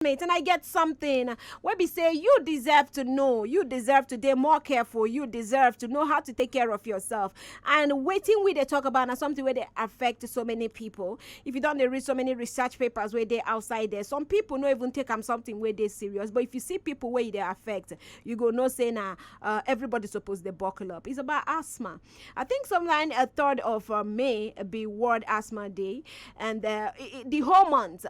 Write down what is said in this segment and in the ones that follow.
statement and I get something wey be say you deserve to know, you deserve to dey more careful, you deserve to know how to take care of yourself. And wetin we dey talk about na something wey dey affect so many people. If you don dey read so many research papers wey dey outside there, some people no even take am something wey dey serious. But if you see people wey e dey affect, you go know say na uh, everybody suppose dey buckle up. It's about asthma. I think sometime a third of uh, May be World Asthma Day, and uh, i- i- the whole month. Uh,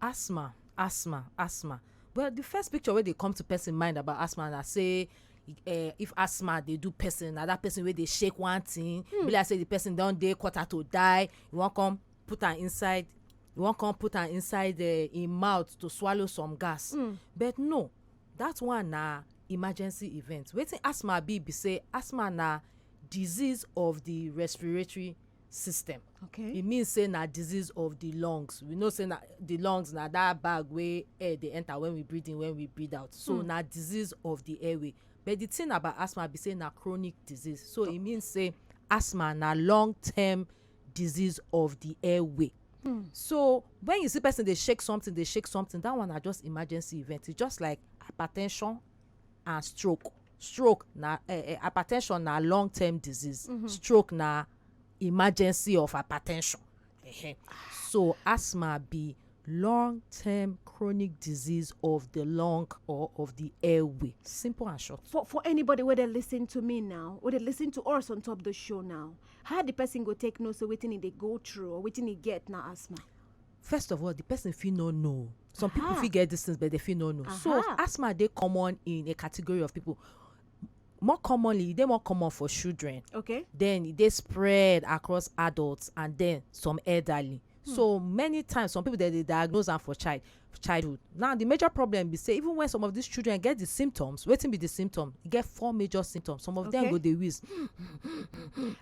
Asthma, asthma, asthma. Well, the first picture wey dey come to person mind about asthma na say uh, if asthma dey do person, na that person wey dey shake one thing, mm. be like say the person don dey quarter to die, you wan come put am inside, you wan come put am inside uh, im mouth to swallow some gas. Mm. But no, that one na emergency event. Wetin asthma be be say asthma na disease of the respiratory system okay e mean say na disease of the lungs we know say na the lungs na that bag wey air dey enter when we breathe in when we breathe out so mm. na disease of the airway but the thing about asthma be say na chronic disease so e mean say asthma na long term disease of the airway Hmm. so when you see person dey shake something dey shake something that one na just emergency event e just like hypertension and stroke stroke na eh, eh, hypertension na long term disease mm -hmm. stroke na emergency of hypertension uh -huh. so asthma be long term chronic disease of the lung or of the airway simple and short. for for anybody wey dey lis ten to me now wey dey lis ten to us on top the show now how the person go take know say wetin e dey go through or wetin e get na asthma. first of all the person fit no know some people uh-huh. fit get these things but they fit no know so uh-huh. asthma dey common in a category of people more commonly e dey more common for children okay then e dey spread across adults and then some elderly hmm. so many times some people dey dey diagnose am for child childhood Now, di major problem be say even wen some of dis children get di symptoms, wetin be di symptoms? E get four major symptoms. Some of dem Okay. go dey wheeze.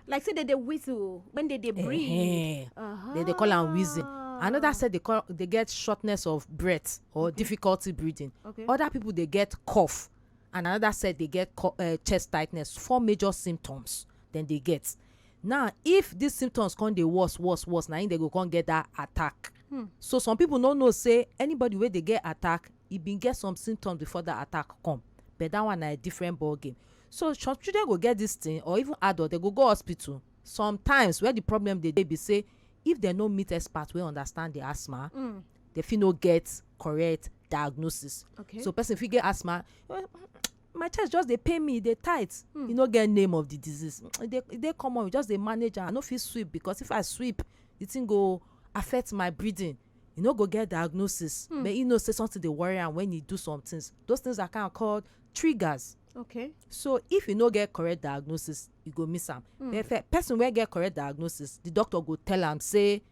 Like say they dey whistle when they dey breathe. Ehen. Uh-huh. Dem dey call am wheezing. Another set dey call dey get shortness of breath or difficulty breathing. Okay. Other people dey get cough and another set dey get co- uh, chest tightness. Four major symptoms dem dey get. Now, if dis symptoms come dey worse, worse, worse, na im dem go come get dat attack. Hmm. So some people no know say anybody wey dey get attack, e bin get some symptoms before dat attack come. But dat one na a different ball game. So some children go get dis thing or even adult, dem go go hospital. Sometimes where the problem dey dey be say if dem no meet expert wey understand the asthma, Hmm. dem fit no get correct diagnosis. Okay. So person fit get asthma, my chest just dey pain me e dey tight hmm. e no get name of the disease e dey e dey common we just dey manage am i no fit sweep because if i sweep the thing go affect my breathing e no go get diagnosis hmm. but e know say something dey worry am when e do some things those things are kind of called triggers okay so if you no get correct diagnosis you go miss am hmm. but person wey get correct diagnosis the doctor go tell am say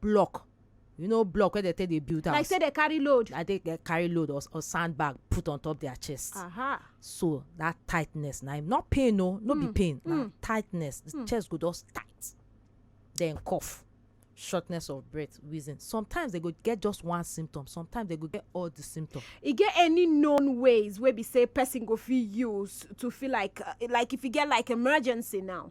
block you know block wey dem take dey build house like say they carry load like they dey carry load or or sandbag put on top their chest aha so that tightness na im not pain o no be Mm, pain na mm. tightness the Mm. chest go just tight then cough shortness of breath wheezing sometimes they go get just one symptom sometimes they go get all the symptom e get any known ways wey be say person go fit use to feel like uh, like if e get like emergency now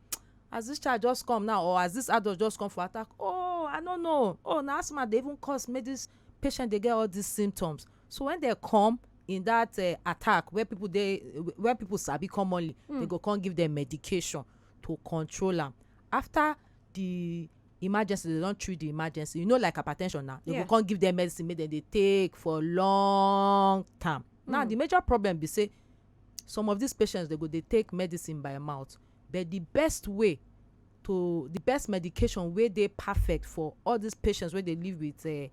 as this child just come now or as this adult just come for attack oh i no know oh na asthma dey even cause make this patient dey get all these symptoms so when they come in that uh, attack where people dey where people sabi commonly mm. they go come give them medication to control am after the emergency they don treat the emergency you know like hypertension now they yeah. go come give them medicine make dem dey take for long time mm. now hmm. the major problem be say some of these patients they go dey take medicine by mouth but di best way to di best medication wey dey perfect for all dis patients wey dey live with um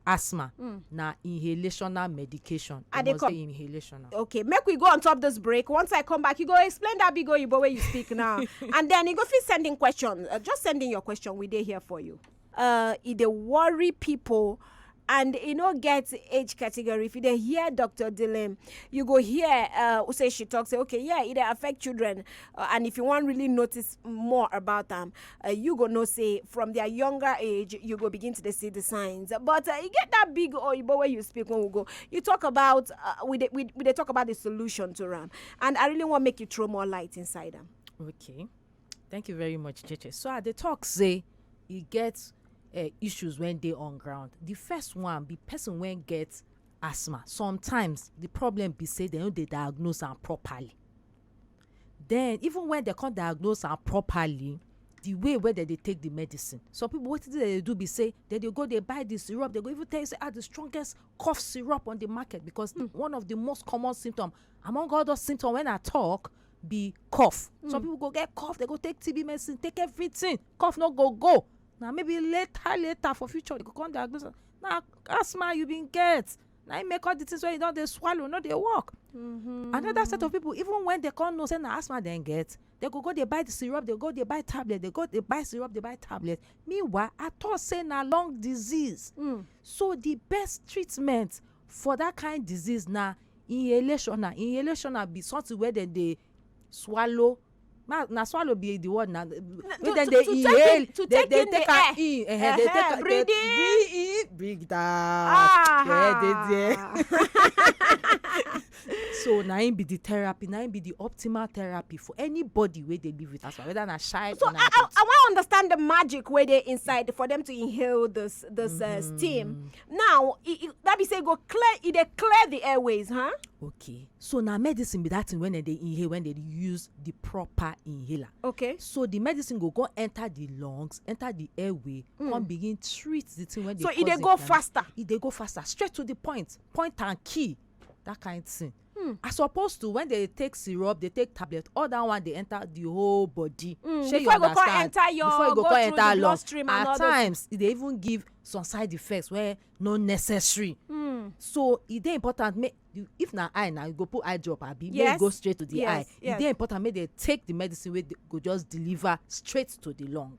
asthma hmm. na inhalational medication i dey come inhalational okay make we go on top this break once i come back you go explain that big oyibo wey you speak now and then you go fit send in question uh, just send in your question we dey here for you uh, e dey worry people and e no get age category if you dey hear dr dilem you go hear uh, who say she talk say okay yeah e dey affect children uh, and if you wan really notice more about am uh, you go know say from their younger age you go begin to dey see the signs but uh, e get that big oyibo wey you speak when we go you talk about uh, we dey we, we dey talk about the solution to am and i really wan make you throw more light inside am. okay. Thank you very much, Cheche. So I dey talk say e get uh, issues when dey on ground. The first one be person when get asthma. Sometimes the problem be say they no dey diagnose am properly. Then even when they come diagnose am properly, the way wey dem dey take the medicine. Some people wetin dem dey do be say dem dey go dey buy the syrup. They go even tell you say ah the strongest cough syrup on the market because mm. one of the most common symptom among all those symptoms when I talk be cough hmm. some people go get cough they go take tb medicine take everything cough no go go na maybe later later for future they go come diagnose na asthma you bin get na im make all the things wey you don dey swallow no dey work mm-hmm. another set of people even when they come know say na asthma dem get they go go dey buy the syrup they go dey buy tablet they go dey buy syrup dey buy tablet meanwhile i thought say na lung disease mm. so the best treatment For that kind disease na inhalation na inhalation na be something wey dem dey swallow na swallow be the word na wey dem dey inhale to take in the air -huh. take am breathe in breathe out ah. yeah dey there so na im be the therapy na im be the optimal therapy for anybody wey dey live with asthma whether na child so or na adult. so i i wan understand the magic wey dey inside for them to inhale this this uh, mm-hmm. steam now e, e, that be say e go clear e dey clear the airways huh? okay so na medicine be that thing wey dem dey inhale when dem use the proper inhaler okay so the medicine go go enter the lungs enter the airway mm. come begin treat the thing wey dey so e dey go faster e dey go faster straight to the point point and key that kind thing Hmm. As opposed to when they take syrup, they take tablet, all that one they enter the whole body. Mm, Shey you before e go come understand? enter your- before e go go come through enter the lung. bloodstream and all At those- times, e dey even give some side effects wey no necessary. Hmm. So e dey important make you if na eye na you go put eye drop abi make Yes. you go straight to the Yes, eye. E yes. dey important make they take the medicine wey dey- go just deliver straight to the lung.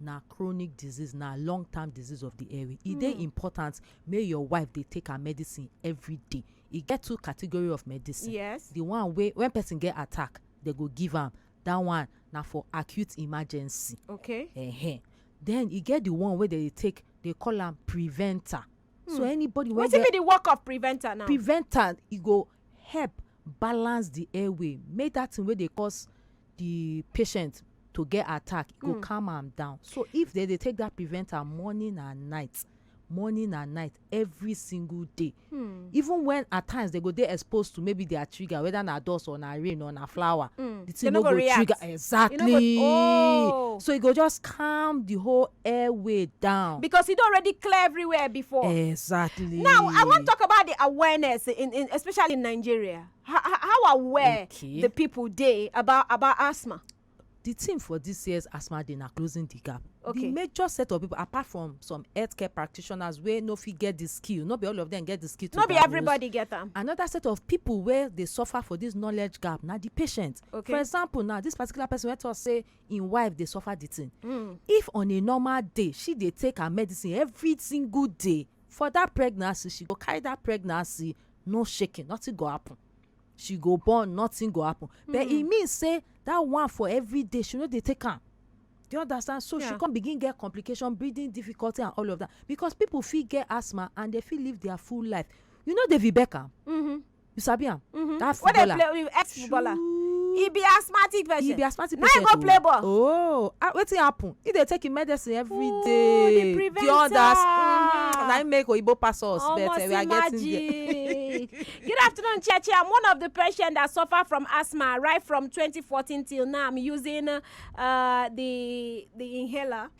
Na chronic disease, na long term disease of the airway. E dey important make your wife dey take her medicine everyday. E get two category of medicine. Yes. The one wey when person get attack, they go give am. That one na for acute emergency. Okay. Ehen. Then e get the one wey they dey take, they call am preventer. So anybody wey Wetin get be the work of preventer now? preventer, e go help balance the airway make that thing wey dey cause the patient to get attack e go mm. calm am down so if they dey take that preventer morning and night morning and night every single day mm. even when at times they go dey exposed to maybe their trigger whether na dust or na rain or na flower mm. the thing no go, go trigger exactly go, oh. so e go just calm the whole airway down. because e don already clear everywhere before. exactly. now i wan talk about the awareness in, in especially in nigeria how, how aware okay. the people dey about about asthma. the theme for this year's asthma day na closing the gap. okay the major set of people apart from some healthcare practitioners wey no fit get the skill no be all of them get the skill to no be everybody get am another set of people wey dey suffer for this knowledge gap na the patient okay for example now this particular person wey talk say im wife dey suffer the thing mm. if on a normal day she dey take her medicine every single day for that pregnancy she go carry that pregnancy no shaking nothing go happen she go born nothing go happen mm. but e hmm. mean say that one for every day she no dey take am do you understand so yeah. she come begin get complication breathing difficulty and all of that because people fit get asthma and they fit live their full life you know david beckham mm -hmm. you sabi am mm-hmm. that footballer wey dey play ex footballer he be asthmatic patient he be asthmatic patient now he go play ball oh ah, wetin happen he dey take him medicine every oh, day the others mm, na him make oyibo pass us but eh, we are getting there. good afternoon chiachi i'm one of the patients that suffer from asthma right from 2014 till now i'm using uh, the the inhaler.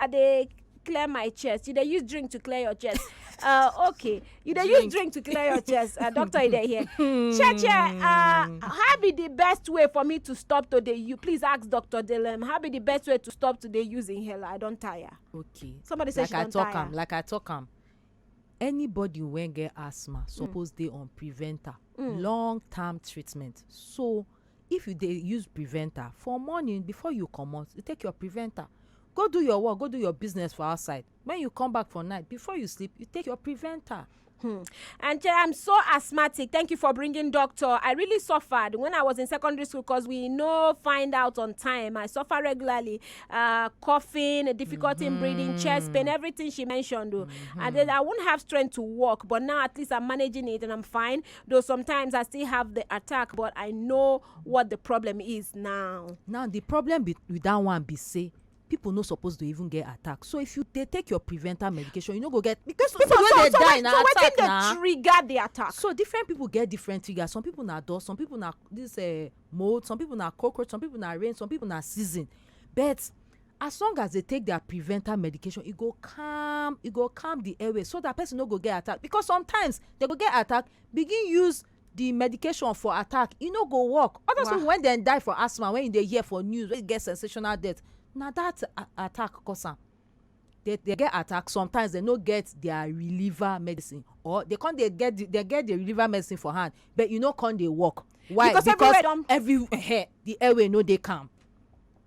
i dey clear my chest you dey use drink to clear your chest uh, okay you dey use drink to clear your chest uh, doctor you dey hear cheche uh, how be the best way for me to stop to dey you please ask doctor delem how be the best way to stop to dey use inhaler i don tire okay somebody say like she i don talk tire am like i talk am anybody wey get asthma suppose dey on preventer long term treatment so If you dey use preventer for morning before you comot you take your preventer go do your work go do your business for outside when you come back for night before you sleep you take your preventer. Hmm. And I'm so asthmatic. Thank you for bringing doctor. I really suffered when I was in secondary school because we no find out on time. I suffer regularly, uh, coughing, difficulty mm -hmm. in breathing, chest pain, mm-hmm. everything she mentioned. Mm -hmm. And then I won't have strength to walk, but now at least I'm managing it and I'm fine. Though sometimes I still have the attack, but I know what the problem is now. now the problem be, with that one be say people no suppose to even get attack so if you dey take your prevental medication you no go get because people so, wey dey so, die so, na so attack na so wetin dey trigger the attack. so different people get different triggers some people na dust some people na this uh, mold some people na cockroach some people na rain some people na season but As long as dey take their prevental medication, e go calm e go calm the airway so that person no go get attack because sometimes dey go get attack begin use the medication for attack e no go work all those people when dem die for asthma when you dey hear for news wey get sensational death na that attack cause am dey dey get attack sometimes dey no get their reliever medicine or dey come dey get the dey get the reliever medicine for hand but e no come dey work why because everywhere don every um the airway no dey calm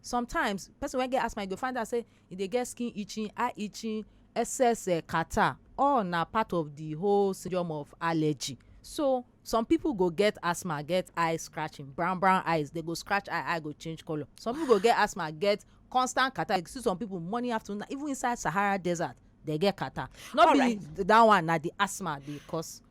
Sometimes, person wey get asthma you go find out sey e dey get skin itching, eye itching, excess um catarrh. All na part of the whole syndrome of allergy. So, some pipu go get asthma get eye scratching, brown brown eyes. They go scratch eye, eye go change colour. Some pipu go get asthma get constant catarrh. You go see some pipu morning, afternoon, night. Even inside Sahara Desert, de get catarrh. No be dat one na the asthma dey cause.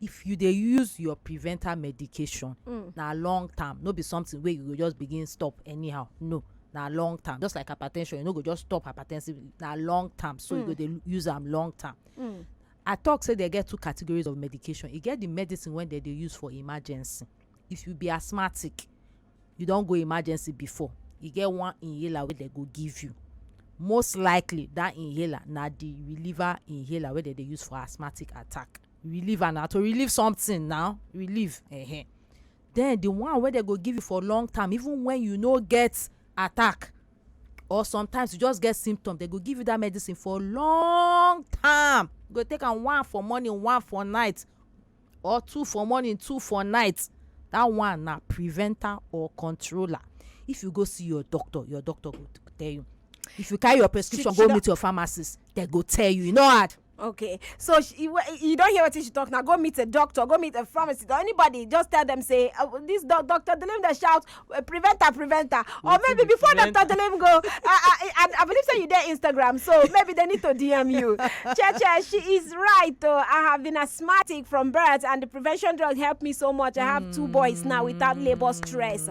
if you dey use your preventer medication mm. na long term no be something wey you go just begin stop anyhow no na long term just like hypertension you no go just stop hypertensive na long term so mm. you go mm. dey use am long term mm. i talk say they get two categories of medication e get the medicine wey dem dey use for emergency if you be asthmatic you don go emergency before e get one inhaler wey dem go give you most likely that inhaler na the reliever inhaler wey dem dey use for asthmatic attack relieve am na to relieve something na relieve um then the one wey dem go give you for long term even when you no get attack or sometimes you just get symptom dem go give you that medicine for long term you go take am one for morning one for night or two for morning two for night that one na preventer or controller if you go see your doctor your doctor go tell you if you carry your prescription go meet your pharmacist dem go tell you e no hard okay so she, you, you don't hear what she talk now go meet a doctor go meet a pharmacist or anybody just tell them say uh, this do doctor delim dey shout uh, prevent her prevent her or maybe before prevent doctor delim go uh, I, I, I believe say you there instagram so maybe they need to dm you cheche she is right though i have been asthmatic from birth and the prevention drug helped me so much i have two boys now without labor stress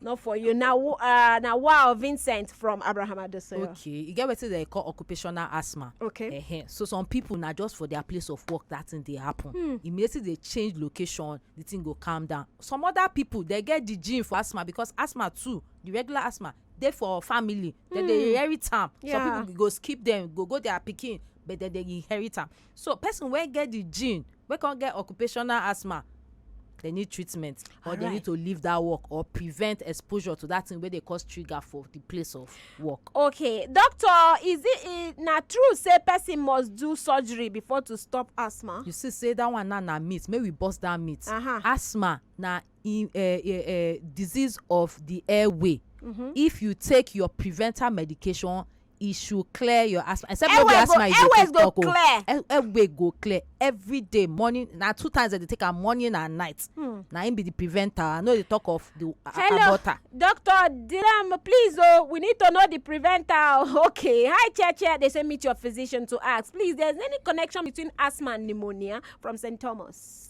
not for you na wo- uh, na wow vincent from abraham adesoyo okay e get wetin dem call occupational asthma Okay. Ehen. so some people na just for their place of work that thing dey happen Hmm. immediately they change location the thing go calm down some other people dey get the gene for asthma because asthma too the regular asthma dey for family dem dey Hmm. inherit am Yeah. some people go skip them go go their pikin but dem dey inherit am So person wey get the gene wey come get occupational asthma they need treatment or they need to leave that work or prevent exposure to that thing wey dey cause trigger for the place of work. Okay doctor is it e na true say person must do surgery before to stop asthma. You see say that one now na myth make we burst that myth. Uh-huh. Asthma na in, uh, uh, uh, disease of the airway mm -hmm. if you take your preventer medication e should clear your asthma except no be asthma you dey take talk o airway go clear every day morning na two times i dey take am morning and night hmm. na im be the preventer i no dey talk of the aborter. doctor dilam please o oh, we need to know the preventer oh, okay hi cheche they say meet your physician to ask please there's any connection between asthma and pneumonia from st thomas.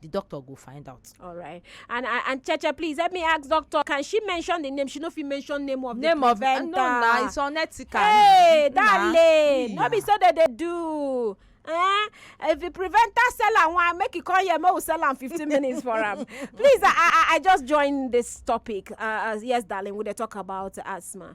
the doctor go find out. All right. And and, and Cheche, please help me ask doctor, can she mention the name? She no fit mention name of name the of preventer. no na it's unethical. Hey, darling, no be so that they do. Eh? If the preventer sell am one, make you call here, make we sell am fifteen minutes for am. Please, I, I, I just join this topic. Uh, uh yes, darling, we dey talk about asthma.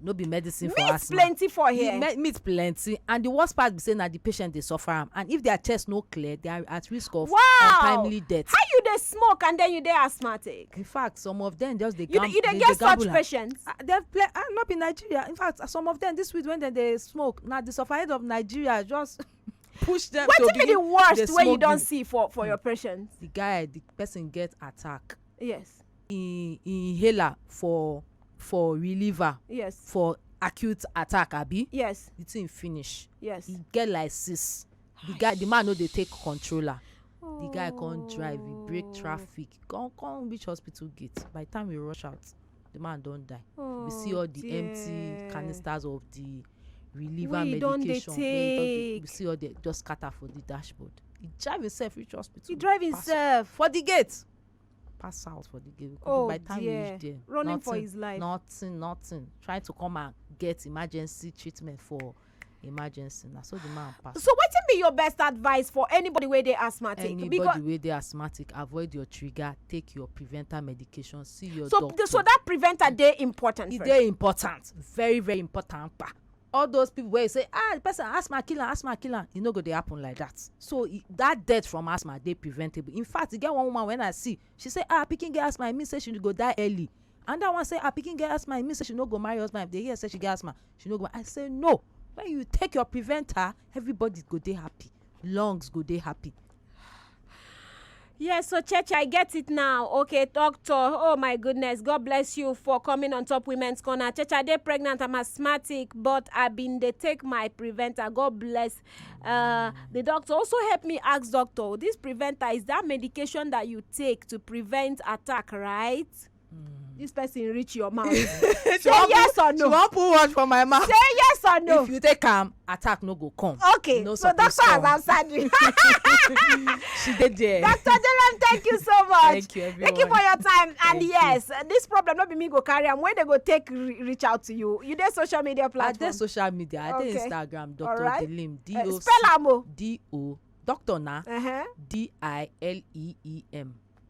no be medicine for meat asthma plenty for the here me- meat plenty and the worst part be say na the patient dey suffer am and if their chest no clear they are at risk of Wow! untimely death how you dey smoke and then you dey asthmatic in fact some of them just dey you dey gam- you dey they get such gamble am. patients Ah, dem play ah no be nigeria in fact some of them this week when dem dey smoke na the sufferhead of nigeria just push them to wetin be the begin dey worst wey you smoke don the- see for for your patients the guy the person get attack yes im inhaler for for reliever yes for acute attack abi yes the thing finish yes e get like six the guy the man no dey take controller the guy come drive he break oh. traffic come come reach hospital gate by the time we rush out the man don die oh, we see all the dear. empty canisters of the reliever we medication wey we see all the just scatter for the dashboard he drive himself reach hospital he drive himself for the gate pass out for the gate we could oh, by the time dear. we reach there running nothing, for his life nothing nothing trying to come and get emergency treatment for emergency na so the man pass. so wetin be your best advice for anybody wey dey asthmatic. anybody wey dey asthmatic avoid your trigger take your preventer medication see your so, doctor. so that preventer dey important. e dey important very very important pa all those people wey say ah the person asthma kill am asthma kill am e no go dey happen like that so that death from asthma dey preventable in fact e get one woman when i see she say ah pikin get asthma e mean say she go die early and that one say ah pikin get asthma e mean say she no go marry husband if they hear say she get asthma she no go i say no when you take your preventer everybody go dey happy lungs go dey happy Yes, so church, I get it now. Okay, doctor. Oh my goodness, God bless you for coming on top women's corner. Church, I dey pregnant. I'm asthmatic, but I been dey take my preventer. God bless. Uh, the doctor also help me ask doctor. This preventer is that medication that you take to prevent attack, right? this person reach your mouth say She wan yes or put- she no wan put watch for my mouth say yes or no if you take am attack no go come okay no so suppose doctor come. has answered you she dey there Dr. Dylan, thank you so much. Thank you, Thank you for everyone. your time. And Thank you. yes, this problem not be me go carry am. When they go take re- reach out to you, you dey social media i dey platform. social media i dey Okay. instagram dr Alright. dilim d Eh, o spell am o. d o doctor na Uh-huh. d i l e e m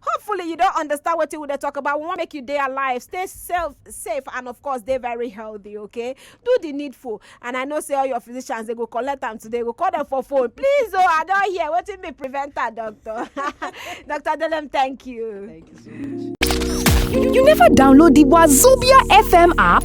hopefully you don understand wetin we dey talk about we wan make you dey alive stay self safe and of course dey very healthy okay do the needful and i know say all your physicians dey go collect am today go call them for phone please oh i don hear wetin be preventer doctor doctor delem thank you. Thank you so much. You never download the Wazobia FM app?